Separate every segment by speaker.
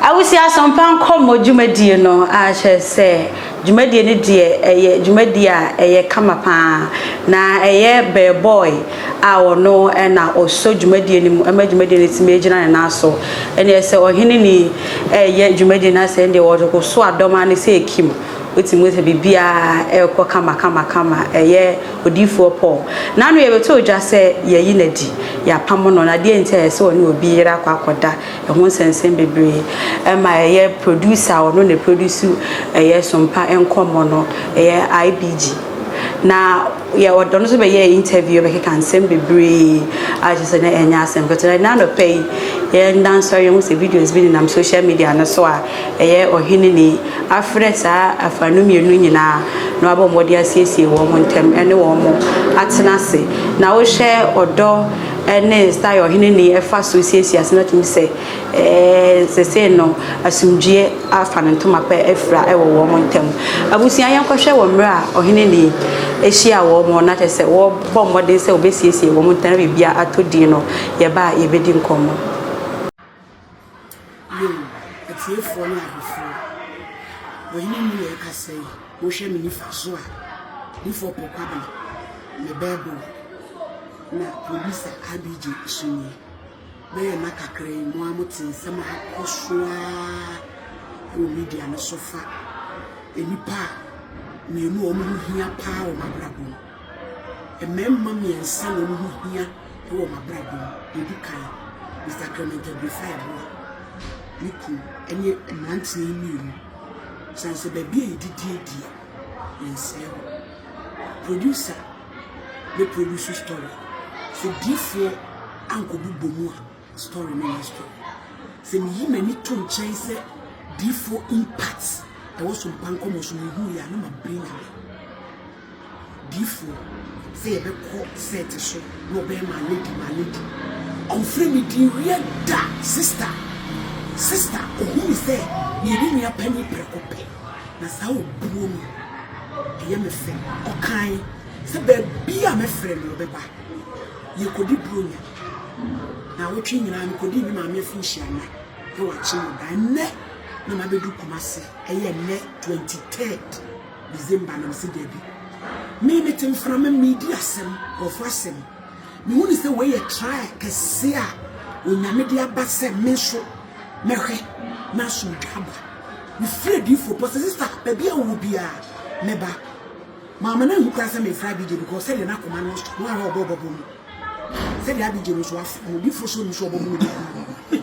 Speaker 1: Awusie Asɔmpa Nkɔmmɔ Dwumadie no ara kyerɛ sɛ dwumadie no deɛ ɛyɛ dwumadie a ɛyɛ kama pa ara na ɛyɛ bɛɛbɔe a ɔno na ɔsɔ dwumadie no mu ma dwumadie no tumi gyina ne nan so. Ɛnneɛ sɛ ɔhene ni ɛreyɛ dwumadie no asɛ deɛ ɔso adɔm ano sɛ ɛkim, wotumi sɛ biribiara ɛrekɔ kama kama kama ɛyɛ Odiyifoɔ Paul. N'ano yɛbɛtoo gya sɛ yɛayi no adi, yɛapamo no, na deɛn nti a ɛyɛ sɛ ɔne obi yere akɔ akɔda, ɛho nsɛnsɛm bebree. Ɛma ɛyɛ producer a ɔno na ɛproduce ɛyɛ Sompa Nkɔmmɔ no, ɛyɛ IBG. Na yɛ ɔde ɔno nso bɛyɛɛ interview, yɛbɛkeka nsɛm bebree a kyerɛ sɛ na ɛnyɛ asɛm ketewa. Ɛnnɛ anɔpa yi, yɛn nnansɔre yɛhu sɛ videos bi nenam social media no so a, Ɛyɛ ɔhene ni afrɛ saa afã no mmienu nyinaa na wabɔ mmɔden asiesie wɔn ntam ne wɔn atena ase. Na wohwɛ ɔdɔ ne style a ɔhene ni fa so siesie ase no atumi sɛ seesei no asomdwoeɛ afa no ntoma pɛ afira wɔ wɔn ntam. Abusua yɛnkɔhwɛ wɔ mmerɛ a ɔhene ni hyia wɔn na kyerɛ sɛ wɔbɔ mmɔden sɛ wɔbɛsiesie wɔn ntam na biribiara atɔ din no yɛba a yɛbɛdi nkɔmmɔ.
Speaker 2: Yiw, atiefoɔ ne ahwɛfoɔ, Ɔhene Mmue aka sɛɛ, Mohwɛ me nifa so a, Dufo po kwabena, me bɛɛboo, na Producer RBJ nso nie. Mɛyɛ nna kakra yi mo ara mote nsɛm a akɔ so ara wɔ media no so fa nnipa mmienu a wɔn ho hia paa wɔ m'abrabɔ mu. Mmarima mmiɛnsa na wɔn ho hia wɔ m'abrabɔ mu. Deɛ ɔdi kan, Mister Clement Abrifah Yeboah, me kunu ne mmeranteɛ yi mmienu. Ɛsiane sɛ baabi a yɛdidi adi a, yɛnsɛe hɔ. Producer bɛ produce story. Sɛ diifoɔ ankɔbobɔ mu a, story no nyɛ story. Sɛ meyi m'ani to nkyɛn sɛ diifoɔ impact ɛwɔ Sompa Nkɔmmɔ so mehu yɛ a, na mabere Nyame. Difo sɛ yɛbɛkɔ set so na ɔbɛyɛ maame di maame di ɔnfrɛ me din wiɛ da sister sister ɔhu me sɛ meyɛ ne nua panin prɛko pɛ na saa obuo no ɛyɛ me fɛ ɔkae sɛ baabi a mɛfrɛ no ɔbɛba yɛkɔdi bronya naawɔtwe nyinaa mekɔdii me maame afi nhyia na na wakye me ba ɛnɛ na mabɛdu Kumasi ɛyɛ ɛnɛ 23rd December na mese dabi. Me mete mframa mu medi asɛm, nkurɔfo asɛm. Mehu ne sɛ wei yɛ trial kɛse a Onyame de aba sɛ me nso mɛhwɛ na asomdwa aba. Mefiri adiifoɔ pɔ sɛ sista baabi a wowɔ biara mɛba. Maama no anhu koraa sɛ mefrɛ Abigye because sɛdeɛ na akoma no ɔsɔ no ahwɛ ɔbɔ ɔbɔbɔ mu. Sɛdeɛ Abigye no nso afrɛ no odiifoɔ sɛ ɔnim sɛ ɔbɔbɔ no bi.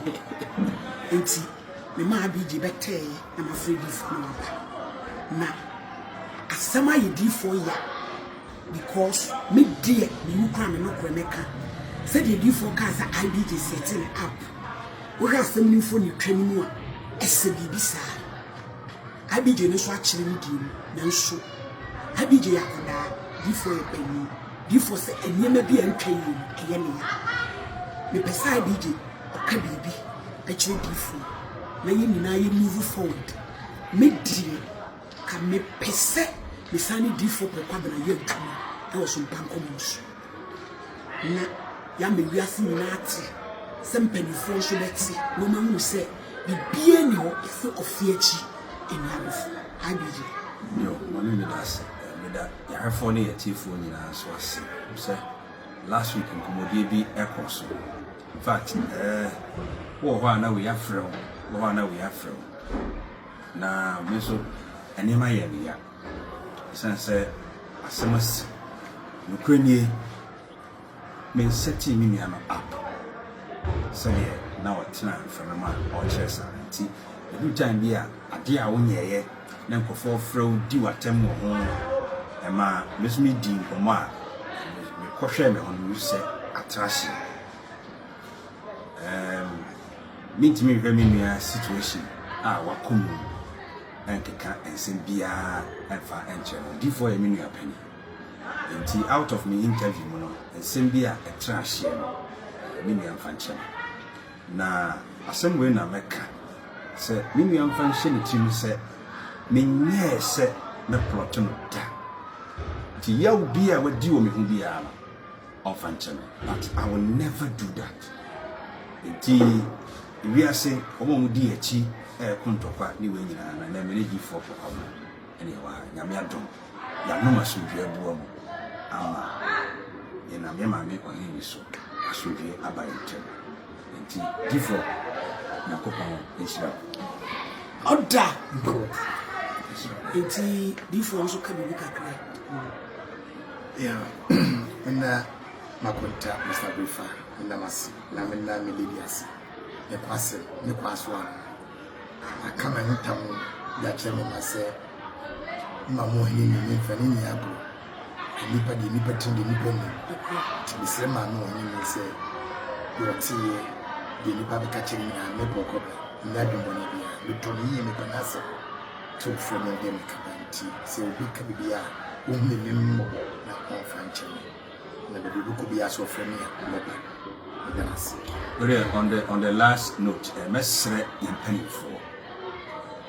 Speaker 2: Nti. Mema Abigye bɛtɛɛ na mafrɛ diifoɔ na waba. Na asɛm ayɛ diifoɔ ya because me deɛ menim koraa me nokorɛ mɛka. Sɛdeɛ diifoɔ kaa sɛ Abigye set no up. Wohwɛ asɛm no mfonintwa no mu a, ɛsɛ biribi saa. Abigye no nso akyerɛ ne deɛ mu nanso Abigye yɛ akwadaa, diifoɔ yɛ panin. Difo sɛ nneɛma bi a ɛntwa yie no ɛyɛ me ya. Mepɛ sɛ adj ɔka biribi kyerɛ difo yi na yɛn nyinaa yɛ move forward. Me deɛ ka me pɛ sɛ me san ne difo Kpre Kwabena yɛ adwuma wɔ sompa nkɔmmɔ no so na yɛama wiase nyinaa ate sɛ mpanimfoɔ nso bɛte na wɔn ahunu sɛ biribiara nni hɔ yɛse ɔfe akyi nni abofoɔ. Adj. Yo, mame
Speaker 3: meda ase, meda. Yɛahwɛfoɔ ne yɛatiefoɔ nyinaa nso ase. Wonim sɛ last week nkɔmmɔdie bi kɔɔ so. In fact, eh, wowɔ hɔ a na wei afrɛ wo, wowɔ hɔ a na wei afrɛ wo. Na me nso nneɛma yɛɛ me ya. Ɛsiane sɛ asɛm asi. Nokorɛ nie. Mensetee me nua no up sɛdeɛ na ɔtena mfɛmam a ɔrekyerɛ saa no nti ɛduru time bi a adeɛ a wonyɛeɛ na nkurɔfoɔ frɛ wo di w'atɛm wɔ ho no ɛmaa me nso medii nkɔmmɔ a mekɔhwɛɛ me ho no mehu sɛ atra hyeɛ um, mentumi nhwɛ me nua situation a wakɔ mu ɛnkeka nsɛm biara ɛmfa ɛnkyerɛ no odifoɔ yɛ me nua panin Enti out of me interview mu no, nsɛm bi a ɛtra ahyeɛ no, me nua mfa nkyerɛ me. Na asɛm wei na mɛka sɛ me nua mfa nhyɛ ne tirim sɛ menyɛɛ sɛ mɛplɔto no da. Nti yaw bi a wadi wɔ me ho biara no, ɔmfa nkyɛ me. But I will never do that. Enti wiase, wɔn a wɔdi yɛn akyi ɛreko ntɔkwa ne wei nyinaa no, ɛnɛ me ne G4 kɔ kwabena. Ɛneɛ wa Nyame adom yanom asomdwie abua mu ama yɛnam yɛ Maame Ɔhene so asomdwie aba yɛn ntɛm nti difoɔ Nyankopɔn nhyira wo.
Speaker 2: Ɔda mpo nti difoɔ nso ka biribi kakra ho.
Speaker 4: Yeah menna makonta Mister Aberefa menna mo ase na menna me lady ase ne kwasem ne kwaso a. Aka m'ano tam de akyerɛ me mma sɛ, Mma mo ɔhene nni me mfa no nni agorɔ. Nnipa deɛ nnipa tirim deɛ nnipa nim. Nti mesrɛ maa me ɔhene nni sɛ deɛ ɔteeɛ, deɛ nnipa bɛka kyerɛ me nyinaa, mɛbɔ ɔkɔ bɛ. Menni adwemmɔne biara. Metɔ no yie, mepɛ n'asɛm. Sɛ ɔfrɛ me a, ɛndeɛ mekaba. Nti sɛ obi ka biribi a, ɔnhunu me mmɔbɔ na ɔmfa nkyɛ me. Na baabi wobɛkɔ biara sɛ wɔfrɛ me a, mɛba. Meda no ase. Wei deɛ, on
Speaker 3: the on the last note, eh, mɛsrɛ yɛn mpanimfoɔ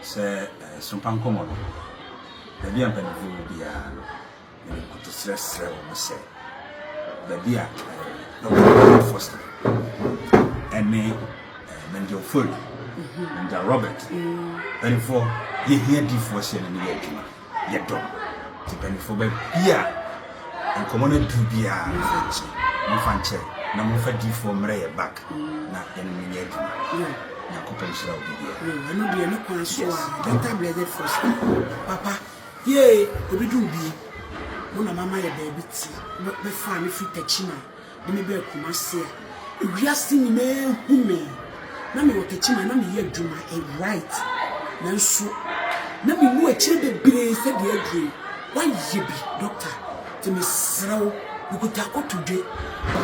Speaker 3: sɛ eh, sompa nkɔmmɔ no, baabi a mpanimfoɔ wɔ biara no, mede nkotosrɛ srɛ wɔn sɛ, baabi a eh, Dr. Foster ɛne eh, Manja Ofori, Manja Robert, mpanimfoɔ, yɛhia difoɔ sɛ yɛne no yɛ adwuma. yɛ dɔ. Nti mpanyinfoɔ baabi a nkɔmɔ no aduru biara no mo nkye, mo nfa nkyɛ na mo nfa diifoɔ mmerɛ yɛ back na yɛne mo nyɛ adwuma. Nyankopɔn nhyira obi biara. Yo, ɛno deɛ ne kwan
Speaker 2: so a, Dr. Blessed Foster, papa, yee, obi de obi, mo na mama yɛ baabi ti, bɛ faa me firi Techiman. De me bɛɛ Kumasi a ewiase nyinaa hu me. Na mewɔ Kakyim a na meyɛ adwuma right. Nanso na menu akyire bebree sɛ deɛ aduro yi wayɛ bi doctor nti mesrɛ wo mekuta akotodwe.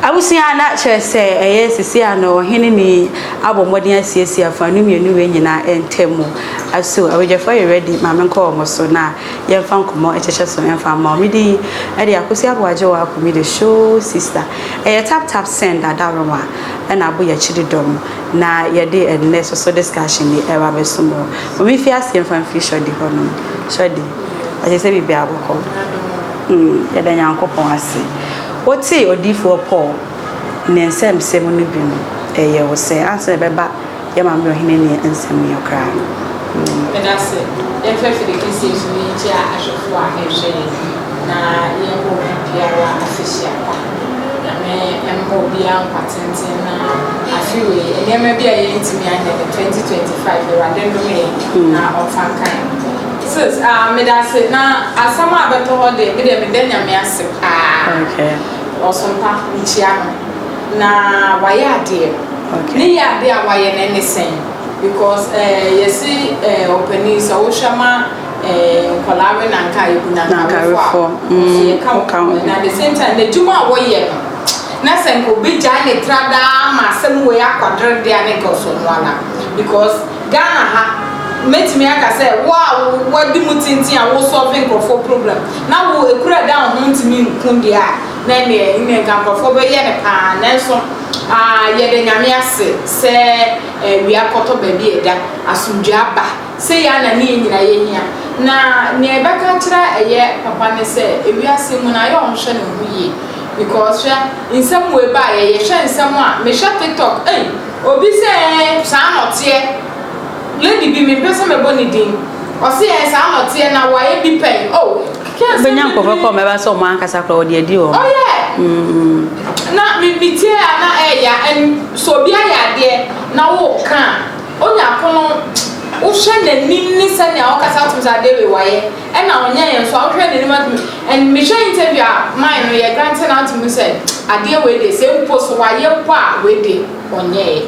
Speaker 1: Abusua na kyerɛ sɛ ɛyɛ sisi a no ɔhene ni abɔ mmɔden asiesie afanu mmienu wei nyinaa ntam mu. Aso abadwafoɔ yɛ ready ma menkɔ wɔn so na Yɛmfa nkɔmmɔ nkyekyɛ so mfa mma wo. Mede yi de Akosua Boagye wo ako, me the show sister. Ɛyɛ tap tap send Adaworowa na Aboyakyiri dɔm na yɛde ɛnnɛ soso discussion yi reba abɛsom wo. Ma memfi aseɛ mfa mfiri Shorty hɔ nom. Shorty, ɔkyerɛ sɛ biribiara bɔkɔ. Mm, yɛda Nyankopɔn ase. Wotee Odiyifoɔ Paul ne nsɛmnsɛm no bi no, ɛyɛ wo sɛ ansa na ɛbɛba Yɛ ma me ɔhene ne nsɛm yɛ koraa mm. Meda
Speaker 5: se dɛ mfa afide kɛseɛ nso no ntia ahwɛfoɔ a ɛrehwɛ yɛn na yɛmmɔ obi biara afehyia pa. Nyame mma obiara nkwa tenten na afe wei nneɛma bi a yɛntumi anyɛ no 2025 Awurade nnome yɛn mm. na ɔmfa nka yɛn. Sis, ah, meda ase na asɛm a bɛtɔ hɔ deɛ me deɛ meda Nyame ase paa. Okay.
Speaker 1: Ɔsompa,
Speaker 5: mekyia no na wayɛ adeɛ. Ne yade
Speaker 1: a wayɛ
Speaker 5: no ɛne sɛn because eh yɛse eh ɔpanin sɛ wohwɛ ma eh nkwadaa we na nka ebu na nka awefoɔ a wɔn so
Speaker 1: yɛka wɔn ho
Speaker 5: and at the same time n'adwuma a wɔyɛ no na sɛ nka obɛgyae ne tra daa ama asɛm wei akwadere deɛ a ne nka ɔsɔ no ana because Ghana ha mɛtumi aka sɛ wo a wadi mu tenten a wo solve nkurɔfoɔ problem na wo ekura da wo ho ntumi nku deɛ a na ɛneɛ nka nkurɔfoɔ bɛyɛ no paa nanso Aah yɛda Nyame ase sɛ awia kɔtɔ baabi a ɛda, asomdwoe aba. Sei ara na ne yɛn nyinaa yɛhia. Na nea yɛbɛka akyerɛ a ɛyɛ papa ne sɛ wiase mu no ayɛ a ɔnhwɛ ne ho yie because hwɛ nsɛm wei baeɛ, yɛhwɛ nsɛm a, mehwɛ tiktok ei obi sɛ ɛɛ saa na ɔteɛ, lady bi mempɛ sɛ mɛbɔ ne din, ɔse ɛɛ saa na ɔteɛ na wayɛ bi pɛn oh. Wobɛnya
Speaker 1: nkurɔfoɔ kɔ ɔmɛba sɛ ɔmo ankasa kora wɔde adi wɔn. Ɔyɛ. Mm.
Speaker 5: Na me me tie a na ɛɛya ɛn sɛ obi ayɛ adeɛ na wo ka a onya kono wohwɛ n'anim ne sɛnea ɔkasa wotum sɛ adeɛ wei wayɛ ɛna ɔnyɛ yɛ nso a wohwɛ n'anim atum ɛn me hwɛ interview a mine no yɛ grante na wotum sɛ adeɛ wei deɛ sɛ mpo so wayɛ mpo a wei deɛ ɔnyɛɛ.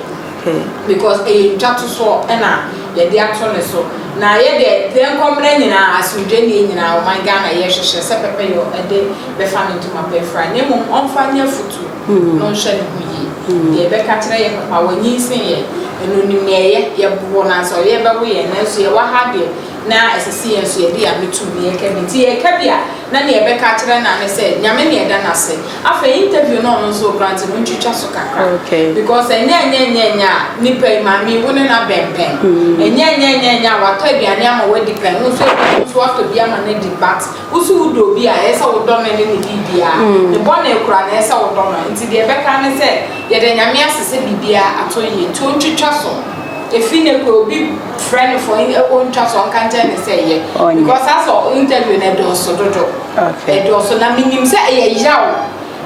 Speaker 5: pɛ. Because ɛyɛ ntwatosoɔ na yɛde ato ne so. Na yɛdeɛ prɛnkɔmena nyinaa, asomdwoenie nyinaa, ɔman Ghana yɛhwehwɛ sɛ pɛpɛyɔ de bɛfa ne ntoma pɛ mfra. Na mmom ɔmfa nyɛ afutuo na ɔnhwɛ ne ho yie. Deɛ yɛbɛka kyerɛ yɛ papa, wanyinsen yɛn, and ɔnim nea ɛyɛ. Yɛbobɔ no ansa ɔyɛ bɛwo yɛn. Nanso yɛwɔ ha deɛ na ɛsɛ sɛ yɛn nso yɛde yɛn ano tom na yɛka bi. Nti yɛka bi a, na deɛ yɛbɛka akyerɛ no ara ne sɛ, Nyame na yɛda no ase. Afei interview no a ɔno nso ɔgrante no ntwitwa so kakra because ɛnyɛ ɛnyɛɛnyɛɛnyɛ a nipa yi maame yi wo ne no abɛn pɛn. Ɛnyɛ ɛnyɛɛnyɛɛnyɛ a watɔ aduane ama wadi pɛn wo nso ebia wo nso watɔ bi ama no adi but wo nso wo dɔ obi a ɛyɛ sɛ wodɔ no ne ne biribiara. Ne bɔne koraa no ɛyɛ sɛ wodɔ no. Nti deɛ ɛbɛka ne sɛ yɛda Nyame ase sɛ biribiara atɔ yie nti ɔntwitwa so. Ɛfiri nnɛ koraa obi frɛ no for in ɔntwa so ɔnka nkyerɛ no sɛ yɛ because asɛ interview no ɛdɔɔso dodo. Ɛdɔɔso, na menim sɛ ɛyɛ yaw,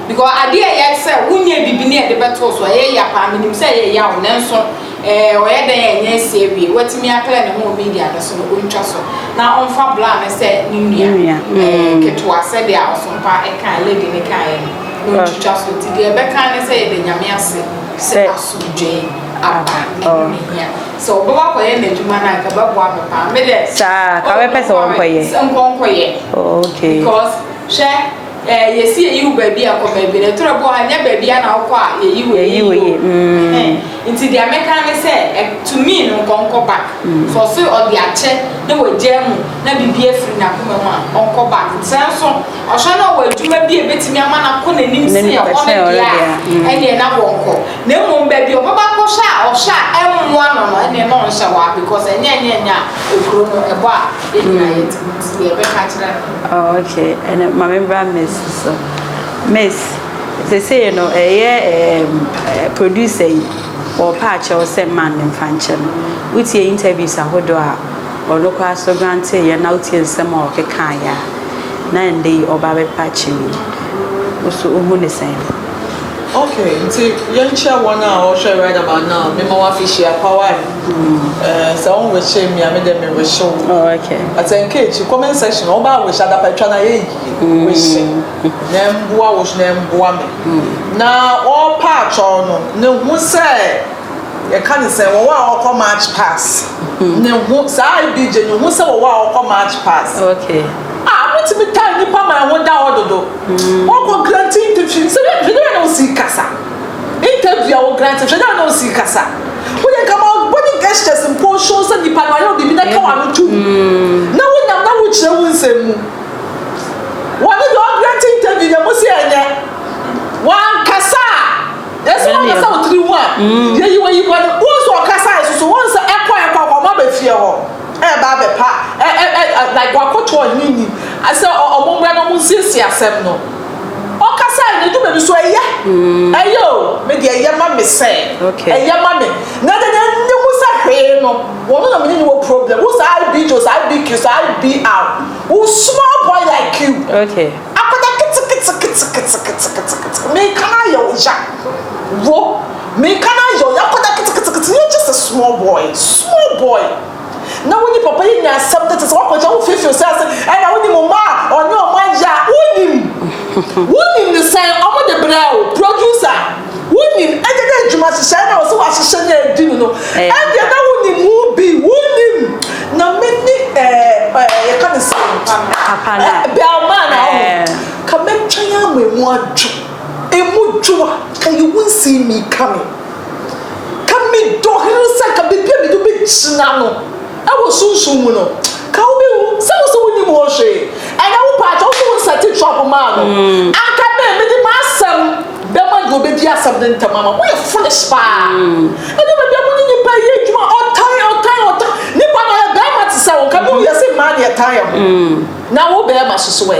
Speaker 5: because adeɛ a ɛyɛ sɛ wonyɛ biribi na yɛde bɛtoo so, ɛyɛ ya paa, menim sɛ ɛyɛ yaw, nanso ɛɛ ɔyɛ dɛn a ɛnyɛ asi awie, watumi aklɛ ne ho wɔ media no so no, ɔntwa so na ɔmfa bla no sɛ ne nua ɛɛ ketewa, sɛdeɛ a Ɔsompa ɛkaa, lady no kaeɛ no, na ɔntwitwa so, nti deɛ ɛbɛka ne sɛ yɛda Nyame ase sɛ asomdwoeɛ aba, ɛno na ɛhia. Sɛ ɔbɛ wa kɔyɛ n'adwuma no a nka bɛboa me paa me dɛ. Saa ka bɛpɛ sɛ
Speaker 1: wɔnkɔyɛ. Sɛ nkɔnkɔyɛ.
Speaker 5: Oh okay.
Speaker 1: Because hwɛ
Speaker 5: ɛɛ eh, yɛsi yɛyi wo baabi a kɔ baabi na ɛtoro bɔ ha nyɛ baabi a na wokɔ a yɛyi wo yɛyi wo yɛ. Mm. Nti deɛ mɛka ne sɛ eh, to me no nkɔnkɔ back. Mm. For so ɔde akyɛ na wagyaa mu na biribi afiri n'akoma mu a ɔnkɔ back. Sɛ nso ɔhwɛ na ɔwɔ adwuma bi a ɛbɛtumi ama no akɔ n'anim sɛ ɔno deɛ a ɛneɛ na wɔnkɔ. Na mmom baabi a ɔbɛba akɔhyɛ a ɔhyɛ a ɛmmoa no no ɛne no nhyɛ hɔ a because ɛnyɛ
Speaker 1: ɛnyɛ ɛnyɛ a ekuro no ɛbɔ a yɛn nyinaa yɛ ti mu nti yɛ bɛka kyerɛ no. Oh okay ɛna maame bra miss so miss sesei no ɛyɛ ɛɛ producer yi ɔpɛ akyɛw sɛ man ne nfa nkyɛ no wotie interviews ahodoɔ a ɔno koraa so grante yɛ na wotie nsɛm a ɔkeka ayɛ a na ɛnde yi ɔba bɛpa akyɛ yi nso ohu ne sɛn. Okay,
Speaker 6: nti yɛnkyerɛ wɔn a wɔhwɛ right about now. Me ma wafi hyia pawa. Eh, sɛ wɔn wehyɛ mi a, me dɛ me wehyɛ wo. Oh, okay. But sɛ
Speaker 1: nka akyi
Speaker 6: comment section na wɔba wehyɛ adapa atwa na yɛ yie. Mm. Wehyɛ na mboa wo so na mboa me. Mm. Na ɔpa atwɔn no ne ho sɛ yɛka ne sɛ wɔwɔ a wɔkɔ march pass. Mm. Ne ho saa ibigye ne ho sɛ wɔwɔ a wɔkɔ march pass. Okay. A
Speaker 1: wotumi taa
Speaker 6: nnipa ma ɛho da hɔ dodo. Wɔkɔ grante interview no sɛ hwɛ hwɛ dɛ bɛn na wosi kasa. Interview a wɔgrante hwɛ dɛ bɛn na wosi kasa. Woyɛ nka ma body gestures mpo show sɛ nipa no ayɛ wo biribi na ka w'ano to mu na wonyam na wokyerɛ wo nsɛm mu. Wɔne deɛ ɔgrante interview deɛ mo se ɛnyɛ. Wankasa a yɛse Ɛnyɛ wankasa nneɛma. wo tiri ho a yɛyi w'ayi bɔ no. Wohu sɛ ɔkasaeɛ soso wohu sɛ ɛkɔ ɛkɔ a wɔn aba fie hɔ. Ɛreba abɛpa ɛ ɛ ɛ ɛ like wakoto ɔhene ni a sɛ ɔ ɔmo mmra na ɔmo nsiesie asɛm no. Ɔkasae no edu baabi so ɛyɛ ɛyɛ o me deɛ ɛyɛ ma me sɛ Okay. ɛyɛ ma me na deɛ deɛ nni ho sɛ hwee no wɔn na me ne no wɔ problem wo sɛ I be Jose I be Christo I be Al wo small boy like you Okay. akwadaa
Speaker 1: ketekete
Speaker 6: ketekete ketekete ketekete meka no ayɛ wo ya wo. Meka no ayɛ o, yɛakɔda ketekete, yɛ just a small boy, small boy, na wo ne papa yi nya asɛm tete sɛ woakɔgya wo feefew sɛ ase, ɛna wo ne mo mma a ɔne ɔmo ayɛ a, wonim, wonim ne sɛn, ɔmo de brɛɛ wo, producer, wonim, ɛnyɛ dɛ adwuma hyehyɛɛ na ɔse wahyehyɛ na adi no no, ɛndeɛ na wonim ho bi, wonim, na me ne ɛɛ ɛɛ yɛka ne sɛn, Papa no a,
Speaker 1: Bellman a,
Speaker 6: ɔho, ka mɛtwɛn ama emu adwo. Emu dwo a, ka yi wo nsii mi ka me. Ka me dɔ hene sɛ ka baabi a mede wobɛgyina no wɔ sunsum mu no, ka wobɛhu sɛ wo sɛ wonim hɔ hwee. Ɛnɛ wo paa kyɛ wo sɛ wo nsɛte trap maa no. Anka me, mede m'asɛm bɛma deɛ ɔbɛdi asɛm no ntɛm ama. Woyɛ foolish paa. Ɛduru baabi a mo ne nipa yɛ adwuma ɔtan ɔtan ɔtan. Nipa na ɔyɛ barima te sɛ wo, nka me woyɛ sɛ mmaa na yɛtan yɛn ho. Na wo barima so so ɛ?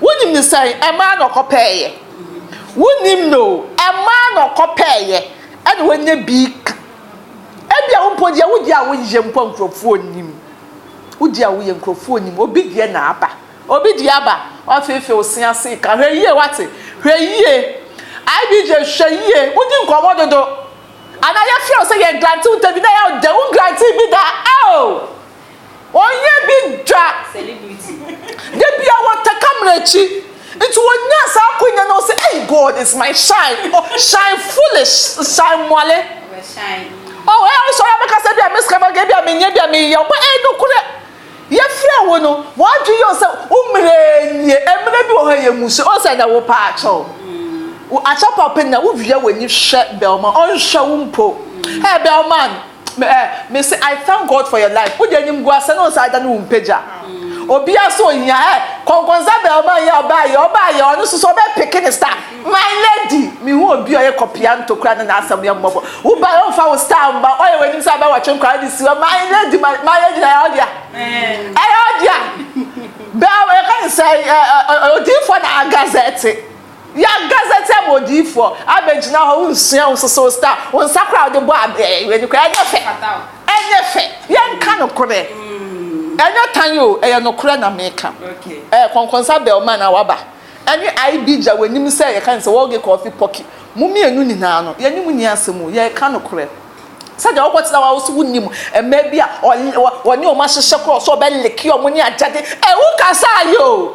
Speaker 6: Wonim no sɛn? Ɛmaa na ɔkɔpɛeɛ. Wonim no o, ɛmaa na ɔkɔpɛeɛ ɛna wanya bi ka. Ebia wo mpo deɛ wodi a woyɛ mpo a nkurɔfoɔ nnim. Wodi a woyɛ nkurɔfoɔ nnim. Obi deɛ na aba. Obi deɛ aba. Wafeefee wo se ase reka. Hwɛ yie wate? Hwɛ yie. IBJ hwɛ yie. Wodi nkɔmmɔ dodo. Anaa yɛfrɛ wo sɛ yɛngrante wo interview na ɛyɛ a wo dɛ wongrantee bi da. Ao! Ɔnyɛ bi da.
Speaker 5: Da bi a
Speaker 6: wɔta camera akyi. Nti wɔnya saa akonya na ɔsɛ ei God is my shine. Oh, shine foolish, shine mɔle.
Speaker 5: Oh, ɛyɛ wo sɛ ɔyɛ
Speaker 6: bɛka sɛ bi a mesika bɛka bi a menyɛ bi a meyɛ. Ɔbɛ ei nokorɛ. Yɛfrɛ wo no, wɔadwe yɛ sɛ wo mmerɛ nie. Mmerɛ bi wɔ hɔ yɛ mu so. Ɔsɛ na wo pa akyɛw. Akyɛ papa na wo wia w'ani hwɛ bɛlma. Ɔnhwɛ wo mpo. Hey bɛlman. Me eh me se I thank God for your life wo deɛ animguasɛ ne ɔnsa da ne wo mpagya obia so ohia eh kɔnkɔnsa bɛɛ ɔma yɛ ɔbaa yɛ ɔbaa yɛ ɔno so so ɔbɛ peke ne star my lady me hu obi ɔyɛ kɔpia ntokura ne n'asɛm yɛ mmɔbɔ wo ba yɛ ɔnfa wo star mba ɔyɛ w'anim sɛ abɛ wɔtwe nkora de siwa my lady my my lady na yɛ ɔdea ɛyɛ ɔdea bɛɛ yɛ ka ne sɛ odiifoɔ na agazɛte. Yɛ gazetteɛ ma odiyifoɔ abɛgyina hɔ wonsua wonsoso wo star wo nsa koraa wode bɔ w'ani koraa ɛnyɛ fɛ ɛnyɛ fɛ yɛnka nokorɛ ɛnyɛ tan o ɛyɛ nokorɛ na meka ɛɛ kɔnkɔnsa
Speaker 1: bɛl ma
Speaker 6: na waba ɛne IB gya w'anim sɛ yɛka ne sɛ wɔge kɔfi pɔki mo mmienu nyinaa no yɛne mo nni asɛm o yɛka nokorɛ sɛdeɛ wokɔ tena wa wo so wonim mmaa bi a wɔne wɔn ahyehyɛ korɔ sɛ ɔbɛ leke wɔn ne agyade ɛɛ wokasa ayɛ o.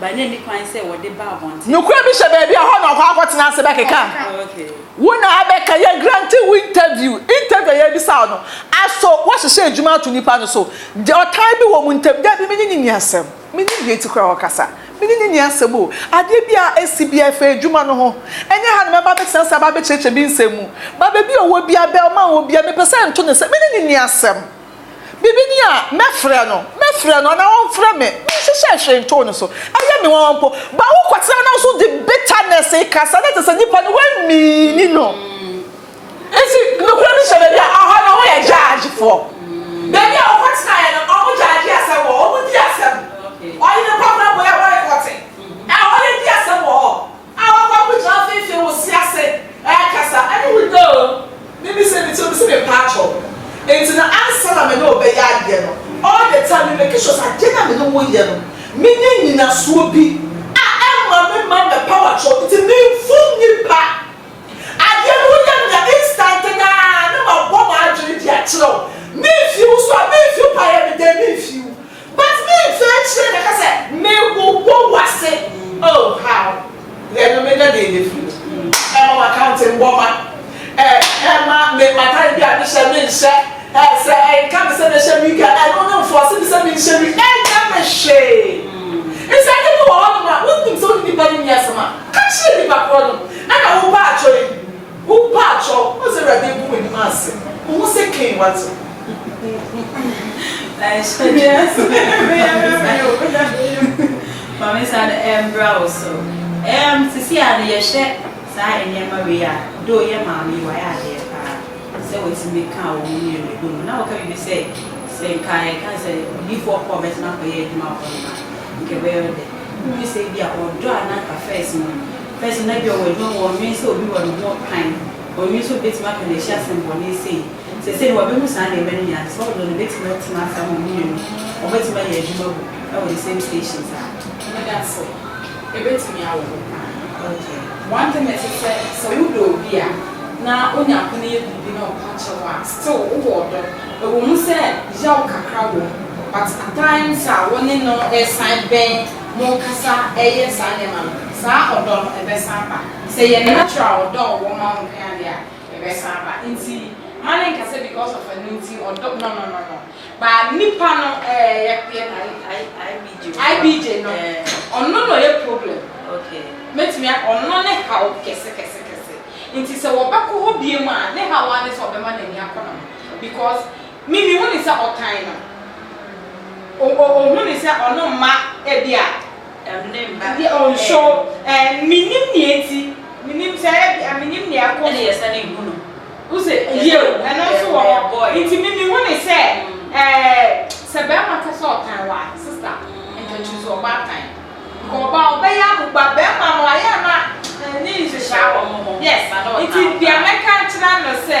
Speaker 1: Ba na ɛni kwan sɛ wɔde ba abɔnten. Nokorɛ bi hyɛ baabi a
Speaker 6: hɔ na ɔkɔ akɔtena ase bɛkeka wo na
Speaker 1: abɛka
Speaker 6: yɛ grante wo interview interview a yɛbisa wo no aso wahyehyɛ adwuma ato nipa no so de ɔtan bi wɔ mo ntam dabi me ne no nni asɛm me nim deɛ nti koraa ɔkasa me ne no nni asɛm o adeɛ bi a asi bi a ɛfa adwuma no ho ɛnyɛ ha na mɛba abɛtena ase aba abɛkyerɛkyerɛ me nsɛm mu ba baabi a ɔwɔ bia bɛl ma wɔ bia mepɛ sɛ nto ne sɛ me ne no nni asɛm Biribi ni a, mɛfrɛ no, mɛfrɛ no, anaa ɔmfrɛ me, menhyehyɛɛ hwee ntoo no so. Ɛyɛ me nwanwa mpo. But wokɔtena na wo nso wode bitterness rekasa, na kyerɛ sɛ nipa no woanmiini no. Nti nokorɛ no hyɛ baabi a, ɛhɔ no woyɛ judgefoɔ. Baabi a wokɔtenaeɛ no, wɔn judge asɛm wɔ hɔ, wɔn di asɛm. Ɔyere kɔ abrabɔ yi a, wɔrekɔte. Ɛhɔ yɛdi asɛm wɔ hɔ. A wɔkɔ akɔgyina mfimfini wɔ si ase rekasa ne wo no o, me me sɛ me ti o, me sɛ me paa kyɛw no nti no ansa na me ne wo bɛyɛ adeɛ no all the time me make sure sɛ adeɛ no a me ne wo yɛ no me nya nyinasoɔ bi a ɛmma me mma mɛ pa wa kyɛw nti me mfum nipa adeɛ no wo yɛ me a instant no ara na ma bɔ ma adwene de akyerɛ wo me mfii wo so a me mfii wo paa yɛ me dɛn me mfii wo But me nso akyire na ɛka sɛ me wowo wase oh how. Yɛ no me nya deɛ yɛ firi no ɛma ma kante mbɔ ma eh ɛma me matare bi a me hyɛ me nhyɛ eh sɛ ɛnka me sɛ me hyɛ wig a ɛno no nfɔse me sɛ me nhyɛ wig ɛnyɛ me hwee nti ade bi wɔ hɔ nom a wo nim sɛ wo ne nipa no nni asɛm a ka kyerɛ nipa korɔ no ɛna wo ba atwɔ yi. Wo mpatsɔ ɔdze Ewuradze egu w'enuma ase, muhu sɛ Cain w'atsew.
Speaker 1: Nhyɛ me ase meyɛ memory o na meyɛ o. Ma me nsa no mbra wo so. Erm sesei ara no yɛhwɛ saa nneɛma wei a, though yɛ maame yi wayɛ adeɛ paa sɛ watumi kaa wɔn mmienu bɔ mu. Na wɔka biribi sɛ, sɛ nka yɛka sɛ odiyifoɔ Paul bɛtena akɔyɛ adwuma wɔ hɔnom a, nka ɛbɛyɛ ɔdɛ. Wohu sɛ ebia ɔdɔ a na anka first no, Pɛ sɛ ɔnadua wɔ adwuma mu, ɔnnwen sɛ obi wɔ ne ho kwan, ɔnnwen sɛ obi betumi aka no ahyia asɛmmɔne sei. Seesei no, wabehu saa nneɛma no nyinaa, te sɛ ɔdɔ no, obetumi atena ase ama wɔn mmienu, wɔbetumi ayɛ adwuma agu wɔ the same station saa. Meda
Speaker 5: ase. Ebetumi awo hɔ paa.
Speaker 1: Okay. One thing nso
Speaker 5: sɛ, sɛ wodɔ obi a, na onya kwan yɛ biribi na ɔka kyerɛ wo a, still wowɔ ɔdɔ. Ɛwɔ mu sɛ yaw kakra wɔ mu, but at times a wo ne no resan bɛn, Monkasa yɛ saa nneɛma no, saa ɔdɔ no bɛsan aba. Sɛ yɛ natural ɔdɔ a ɔwɔ ma wo nkoa deɛ a, ɛbɛsan aba. Nti mma ne nka sɛ because of ɛno nti ɔdɔ no no no no. But nipa no. Ɛɛ yɛ yɛ IBJ no. IBJ no, ɔno na ɔyɛ problem. Okay. Mɛtumi
Speaker 1: a ɔno
Speaker 5: ne haw kɛse kɛse kɛse. Nti sɛ wɔbɛkɔ hɔ biom a, ne haw ara ne sɛ ɔbɛma n'ani akɔ ne ho because. Me me hu no sɛ ɔtan no o o ohu no sɛ ɔno mma ebi a Ɛm ne mma
Speaker 1: deɛ o nso
Speaker 5: ɛm. ɛɛ me nim nea enti me nim sɛ ebi a me nim nea ɛkɔ Ɛna so yɛ sane hu no
Speaker 1: wo se yɛ
Speaker 5: yeo ɛno ɛɛ nso wɔ hɔ ɛɛ boy nti me me hu no sɛ mm. ɛɛ sɛ bɛɛma ka sɛ ɔtan wo a sister nka kyiri sɛ ɔba atan nka ɔba a ɔbɛyɛ abo ba bɛɛma no ayɛ a na ɛɛ ne nhyehyɛ Sɛ awɔ wɔn ho yes ma na ɔtan nti wo deɛ paa. mɛka akyerɛ no sɛ.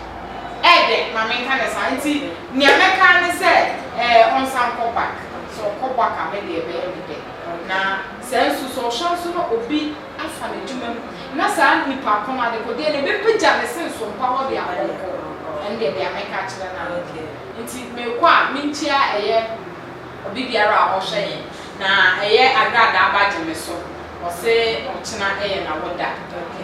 Speaker 5: Ɛɛ dɛ, ma menka no saa. Ntsi nea mɛka ara nye sɛ, ɛɛ ɔnsan nkɔ back. Sɛ ɔkɔ back a, me de ɛbɛyɛ me dɛ. Na sɛ nso, sɛ ɔhwɛ nso na obi afa n'edwuma mu, na saa nyimpa ko no, adekodeɛ no, ebepegya ne se nso mpa hɔ de a, ɔnkɔ. Ɛndeɛ dea mɛka akyerɛ no ara nye no. Ntsi mekɔ a, minkyia ɛyɛ obibiara a ɔhwɛ hɛn, na ɛyɛ agradaa bagye me so. Ɔse ɔkyena yɛ n'awoda,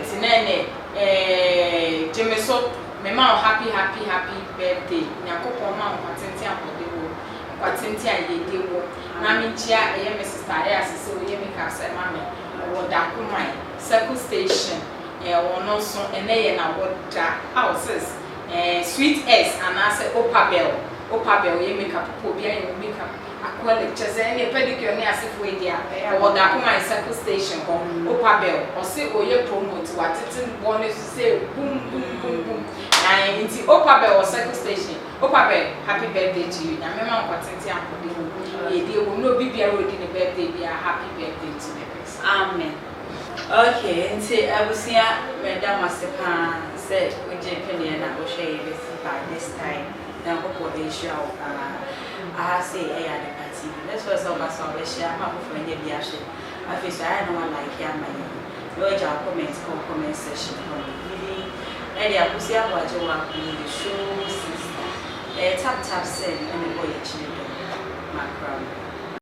Speaker 5: ntsi na ɛnɛ eeii gye me so me ma wo happy happy happy birthday nyankopɔn mma wo nkwa tenten ahoɔden wɔ mu nkwa tenten a yiedie wɔ mu na me nkyia ɛyɛ me sister ayɛ ase sɛ oyɛ me kaa sɛ ma me ɔwɔ da ko man circle station eh ɔno nso ɛnɛ yɛ na wɔ da aw sis eh sweet S anaa sɛ opabel opabel yɛ makeup papa obi ayɛ wo makeup Akoli, kyerɛ sɛ ɛneɛ Pedicure ne asefoɔ adi a ɛwɔ Gakumai Circle Station hɔ, Opa Bell, ɔse ɔyɛ promote watete no bɔ no so sei bum bum bum bum naae nti Opa Bell wɔ Circle Station, Opa Bell happy birthday to you, Nyame ma nkɔtenten akɔdem o, yiedie wom ne obi biara a ɔdi ne birthday biara happy birthday to the person, amen. Ok nti abusua meda mo ase paa sɛ wo gye pene na wo hwɛ yɛbɛsi by this time Nyankopɔn nhyira wo paa. Aha sei ɛyɛ Adepa TV. Let's watch sɛ ɔba so a ɔbɛhyɛ ama afoforɔ anya bi ahwɛ. Afei nso ayɛ a na wa like ama yɛn na wagya wo comment ɛwɔ comment section hɔ nom. Me din ɛde Akosua Aboagye Woaku ne the show sister. Ɛyɛ tap tap send na mebɔ yɛ kyere dɔm. Makra mo.